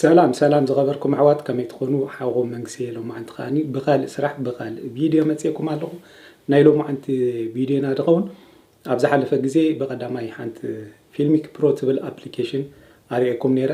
ሰላም ሰላም ዝኸበርኩም ኣሕዋት ከመይ ትኾኑ ሓውኹም መንግስየ ሎማዓንቲ ከዓኒ ብኻልእ ስራሕ ብኻልእ ቪድዮ መፅኤኩም ኣለኹ ናይ ሎማዓንቲ ቪድዮና ድኸውን ኣብ ዝሓለፈ ግዜ ብቐዳማይ ሓንቲ ፊልሚክ ፕሮ ትብል ኣፕሊኬሽን ኣርእየኩም ነይረ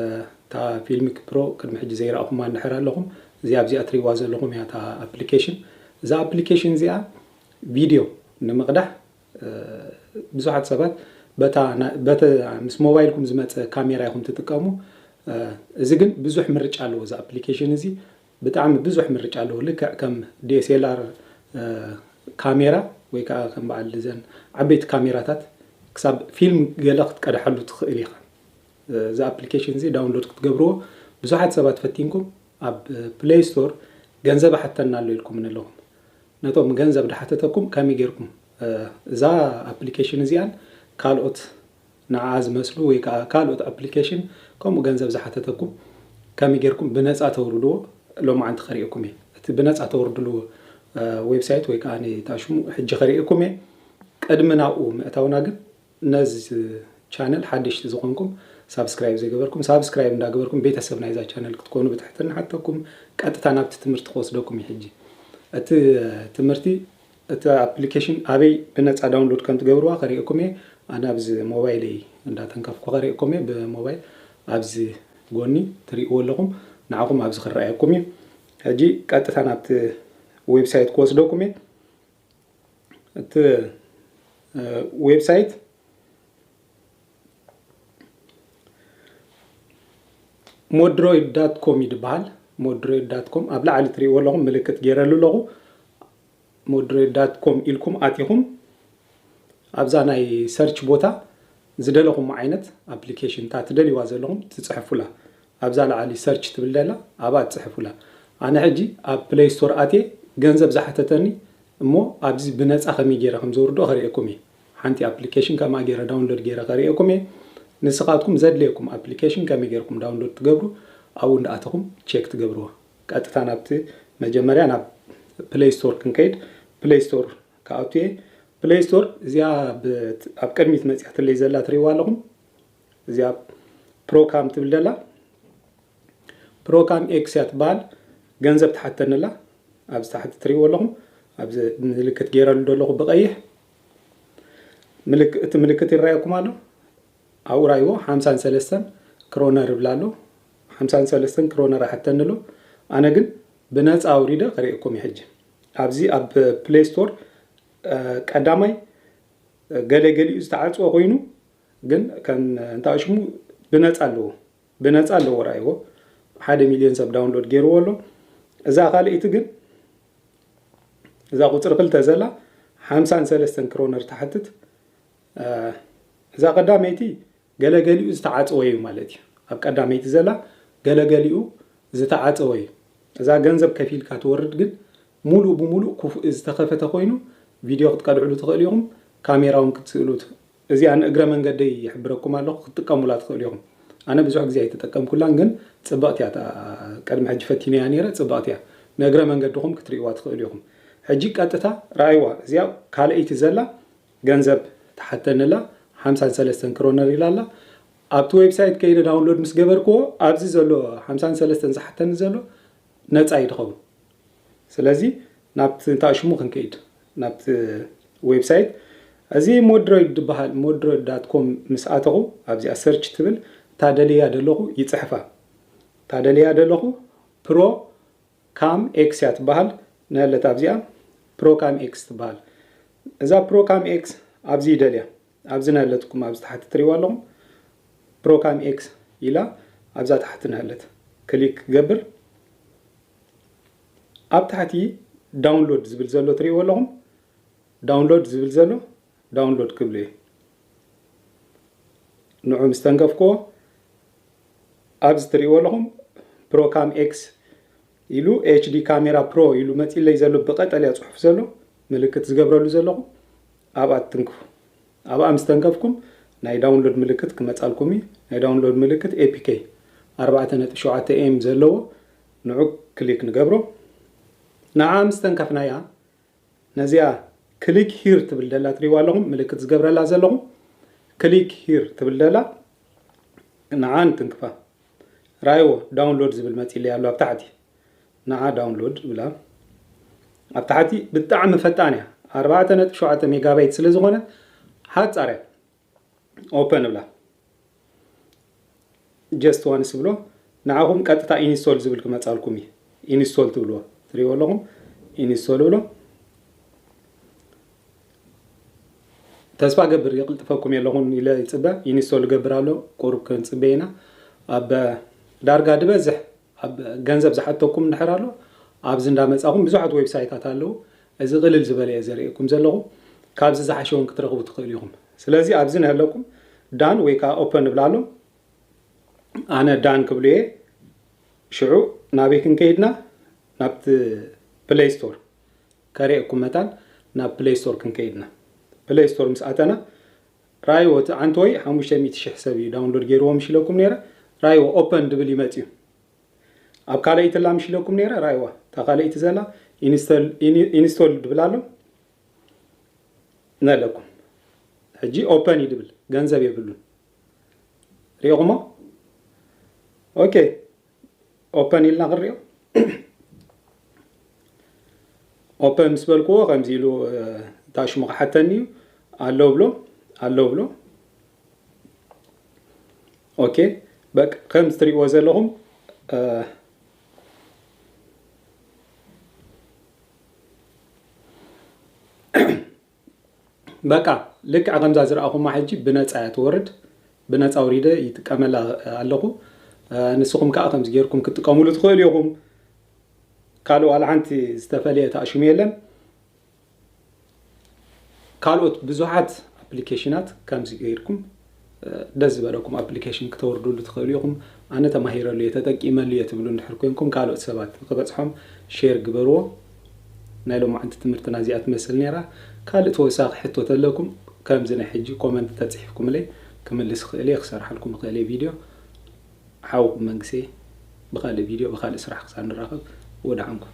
እታ ፊልሚክ ፕሮ ቅድሚ ሕጂ ዘይረኣኹማ እንድሕር ኣለኹም እዚ ኣብዚኣ ትሪእዋ ዘለኹም እያ እታ ኣፕሊኬሽን እዛ ኣፕሊኬሽን እዚኣ ቪድዮ ንምቕዳሕ ብዙሓት ሰባት በታ ምስ ሞባይልኩም ዝመፀ ካሜራ ኢኹም ትጥቀሙ። እዚ ግን ብዙሕ ምርጫ ኣለዎ። እዚ ኣፕሊኬሽን እዚ ብጣዕሚ ብዙሕ ምርጫ ኣለዎ። ልክዕ ከም ዲኤስኤልኣር ካሜራ ወይ ከዓ ከም በዓል እዘን ዓበይቲ ካሜራታት ክሳብ ፊልም ገለ ክትቀድሓሉ ትኽእል ኢኻ። እዚ ኣፕሊኬሽን እዚ ዳውንሎድ ክትገብርዎ ብዙሓት ሰባት ፈቲንኩም ኣብ ፕሌይ ስቶር ገንዘብ ኣሓተና ኣሎ ኢልኩም ኣለኹም። ነቶም ገንዘብ ድሓተተኩም ከመይ ጌርኩም እዛ ኣፕሊኬሽን እዚኣን ካልኦት ንዓኣ ዝመስሉ ወይ ከኣ ካልኦት ኣፕሊኬሽን ከምኡ ገንዘብ ዝሓተተኩም ከመይ ጌርኩም ብነጻ ተውርድዎ ሎማዓንቲ ከርእየኩም እየ እቲ ብነጻ ተውርድልዎ ዌብሳይት ወይ ከኣ እታ ሽሙ ሕጂ ከርእየኩም እየ ቅድሚ ናብኡ ምእታውና ግን ነዝ ቻነል ሓደሽቲ ዝኾንኩም ሳብስክራይብ ዘይገበርኩም ሳብስክራይብ እንዳገበርኩም ቤተሰብ ናይዛ ቻነል ክትኮኑ ብትሕትና ንሓተኩም ቀጥታ ናብቲ ትምህርቲ ክወስደኩም እዩ ሕጂ እቲ ትምህርቲ እቲ ኣፕሊኬሽን ኣበይ ብነጻ ዳውንሎድ ከም ትገብርዋ ከርእየኩም እየ ኣነ ኣብዚ ሞባይለይ እንዳተንከፍኩ ከርእየኩም እየ ብሞባይል ኣብዚ ጎኒ ትርእይዎ ኣለኹም ንዓኹም ኣብዚ ክረኣየኩም እዩ ሕጂ ቀጥታ ናብቲ ዌብሳይት ክወስደኩም እየ እቲ ዌብሳይት ሞድሮይድ ዳት ኮም እዩ ዝበሃል ሞድሮይድ ዳት ኮም ኣብ ላዕሊ ትሪእዎ ኣለኹም ምልክት ገይረሉ ኣለኹ ሞድሮይድ ዳት ኮም ኢልኩም ኣቲኹም ኣብዛ ናይ ሰርች ቦታ ዝደለኹም ዓይነት ኣፕሊኬሽን እታ ትደልይዋ ዘለኹም ትፅሕፉላ ኣብዛ ላዓሊ ሰርች ትብል ዘላ ኣብኣ ጽሐፉላ ኣነ ሕጂ ኣብ ፕለይ ስቶር ኣትየ ገንዘብ ዝሓተተኒ እሞ ኣብዚ ብነጻ ከመይ ጌረ ከም ዘውርዶ ከርእየኩም እየ ሓንቲ ኣፕሊከሽን ከምኣ ጌረ ዳውንሎድ ጌረ ከርእየኩም እየ ንስኻትኩም ዘድልየኩም ኣፕሊከሽን ከመይ ጌርኩም ዳውንሎድ ትገብሩ ኣብኡ እንዳኣተኹም ቼክ ትገብርዋ ቀጥታ ናብቲ መጀመርያ ናብ ፕለይ ስቶር ክንከይድ ፕለይ ስቶር ክኣቱ እየ ፕለይ ስቶር እዚኣ ኣብ ቅድሚት መጽያትለይ ዘላ ትርእይዋ ኣለኹም እዚኣ ፕሮካም ትብል ደላ ፕሮካም ኤክስ እያ ትበሃል ገንዘብ ትሓተኒ ኣላ ኣብዚ ታሕቲ ትሪእዎ ኣለኹም ኣብዚ ምልክት ገይረሉ ዘለኹ ብቐይሕ እቲ ምልክት ይረኣየኩም ኣሎ ኣብኡ ራይዎ ሓምሳን ሰለስተን ክሮነር ይብላ ኣሎ ሓምሳን ሰለስተን ክሮነር ኣሓተኒ ኣሎ ኣነ ግን ብነፃ ኣውሪደ ከርእየኩም ሕጂ ኣብዚ ኣብ ፕሌይ ስቶር ቀዳማይ ገለ ገሊኡ ዝተዓፅወ ኮይኑ ግን ከም እንታይ ሽሙ ብነፃ ኣለዎ ብነፃ ኣለዎ ርኣይዎ ሓደ ሚልዮን ሰብ ዳውንሎድ ገይርዎ ኣሎ እዛ ካልእቲ ግን እዛ ቁፅሪ ክልተ ዘላ ሓምሳን ሰለስተን ክሮነር ትሓትት እዛ ቀዳመይቲ ገለገሊኡ ዝተዓፀወ እዩ ማለት እዩ ኣብ ቀዳመይቲ ዘላ ገለገሊኡ ዝተዓፀወ እዩ እዛ ገንዘብ ከፊልካ ትወርድ ግን ሙሉእ ብሙሉእ ክፉእ ዝተኸፈተ ኮይኑ ቪድዮ ክትቀድዕሉ ትኽእሉ ኢኹም ካሜራ እውን ክትስእሉ እዚኣ ንእግረ መንገደይ ይሕብረኩም ኣለኩ ክትጥቀሙላ ትክእሉ ኢኩም ኣነ ብዙሕ ግዜ ኣይተጠቀምኩላን ግን ጽብቅቲ እያ እታ ቅድሚ ሕጂ ፈቲነያ ኔረ ጽብቅቲ እያ ንእግረ መንገድኩም ክትርእይዋ ትክእሉ ኢኩም ሕጂ ቀጥታ ረኣይዋ እዚኣ ካልኣይቲ ዘላ ገንዘብ ትሓተኒ ኣላ ሓምሳን ሰለስተን ክሮነር ኢላ ኣላ ኣብቲ ዌብሳይት ከይደ ዳውንሎድ ምስ ገበርክዎ ኣብዚ ዘሎ ሓምሳን ሰለስተን ዝሓተኒ ዘሎ ነጻ እዩ ድከውን ስለዚ ናብቲ እንታይ ሽሙ ክንከይድ ናብቲ ዌብሳይት እዚ ሞድሮይድ ድበሃል ሞድሮይድ ዳት ኮም ምስ ኣተኹ ኣብዚኣ ሰርች ትብል ታደልያ ደለኹ ይጽሕፋ ታደልያ ደለኹ ፕሮ ካም ኤክስ እያ ትበሃል ነለት ኣብዚኣ ፕሮ ካም ኤክስ ትበሃል እዛ ፕሮ ካም ኤክስ ኣብዚ ይደልያ ኣብዚ ነለትኩም ኣብዚ ታሕቲ ትሪዋ ኣለኹም ፕሮ ካም ኤክስ ኢላ ኣብዛ ታሕቲ ነለት ክሊክ ገብር ኣብ ታሕቲ ዳውንሎድ ዝብል ዘሎ ትሪእዎ ኣለኹም ዳውንሎድ ዝብል ዘሎ ዳውንሎድ ክብሉ እየ ንዑ ምስ ተንከፍክዎ ኣብዚ ትሪእዎ ኣለኹም ፕሮካም ኤክስ ኢሉ ኤችዲ ካሜራ ፕሮ ኢሉ መፂለይ ዘሎ ብቀጠልያ ፅሑፍ ዘሎ ምልክት ዝገብረሉ ዘለኹ ኣብኣ ትንክፉ ኣብኣ ምስ ተንከፍኩም ናይ ዳውንሎድ ምልክት ክመፃልኩም እዩ ናይ ዳውንሎድ ምልክት ኤፒኬ 4.7 ኤም ዘለዎ ንዑ ክሊክ ንገብሮ ንዓ ምስ ተንከፍናያ ነዚኣ ክሊክ ሂር ትብል ደላ ትሪእዋ ኣለኹም ምልክት ዝገብረላ ዘለኹ ክሊክ ሂር ትብል ደላ ንዓ ንትንክፋ ራይዎ ዳውንሎድ ዝብል መጺለይ ኣሎ ኣብ ታሕቲ ንዓ ዳውንሎድ ብላ ኣብ ታሕቲ ብጣዕሚ ፈጣን እያ ኣርባዕተ ነጥቢ ሸውዓተ ሜጋባይት ስለ ዝኾነት ሓጻር እያ ኦፐን እብላ ጀስት ዋንስ ብሎ ንዓኹም ቀጥታ ኢንስቶል ዝብል ክመፃልኩም እዩ ኢንስቶል ትብልዎ ትሪእዎ ኣለኹም ኢንስቶል ብሎ ተስፋ ገብር የቕልጥፈኩም የለኹን ኢለ ይፅበ ኢንስቶል ገብር ኣሎ ቁሩብ ክንፅበ ኢና ኣብ ዳርጋ ዝበዝሕ ኣብ ገንዘብ ዝሓተኩም እንድሕር ኣሎ ኣብዚ እንዳ መጻኹም ብዙሓት ዌብሳይታት ኣለዉ እዚ ቅልል ዝበለ እየ ዘርእየኩም ዘለኹ ካብዚ ዝሓሸ ውን ክትረኽቡ ትኽእሉ ኢኹም ስለዚ ኣብዚ ነህለኩም ዳን ወይ ከኣ ኦፐን ንብላ ኣሎ ኣነ ዳን ክብሉ እየ ሽዑ ናበይ ክንከይድና ናብቲ ፕለይ ስቶር ከርእየኩም መታን ናብ ፕለይ ስቶር ክንከይድና ፕለይ ስቶር ምስ ኣተና ራይዎ እቲ ዓንተወይ ሓሙሽተ ሚእቲ ሽሕ ሰብ እዩ ዳውንሎድ ገይርዎ ምሽ ኢለኩም ነይረ ራይዎ ኦፐን ድብል ይመጽዩ ኣብ ካልኣይቲ ኣላ ምሽ ኢለኩም ነይረ ራይዋ እታ ካልኣይቲ ዘላ ኢንስቶል ድብል ኣሎ ነለኩም ሕጂ ኦፐን እዩ ድብል ገንዘብ የብሉን ሪኢኹሞ ኦኬ ኦፐን ኢልና ክንሪኦ ኦፐን ምስ በልክዎ ከምዚ ኢሉ እታ ሽሙ ክሓተኒ እዩ ኣለው ብሎ ኣለው ብሎ ኦኬ በቃ ከም ዝትሪእዎ ዘለኹም በቃ ልክዕ ከምዛ ዝረኣኹማ ሕጂ ብነጻ እያ ትወርድ ብነጻ ኣውሪደ ይጥቀመላ ኣለኹ ንስኹም ከኣ ከምዚ ጌርኩም ክትጥቀሙሉ ትኽእሉ ኢኹም ካልእ ዋላ ሓንቲ ዝተፈልየ ተኣሽሙ የለን ካልኦት ብዙሓት ኣፕሊኬሽናት ከምዚ ጌርኩም ደስ ዝበለኩም ኣፕሊኬሽን ክተውርድሉ ትኽእሉ ኢኹም። ኣነ ተማሂረሉ እየ ተጠቂመሉ እየ ትብሉ እንድሕር ኮንኩም ካልኦት ሰባት ንኽበጽሖም ሼር ግበርዎ። ናይ ሎማዓንቲ ትምህርትና እዚኣ ትመስል ኔራ። ካልእ ተወሳኺ ሕቶ ተለኩም ከምዚ ናይ ሕጂ ኮመንት ተጽሒፍኩምለይ ክምልስ ይኽእል እየ ክሰርሓልኩም ይኽእል እየ ቪድዮ። ሓውኩም መንግሰ እየ ብኻልእ ቪድዮ ብኻልእ ስራሕ ክሳብ ንራኸብ ወድዓንኩም።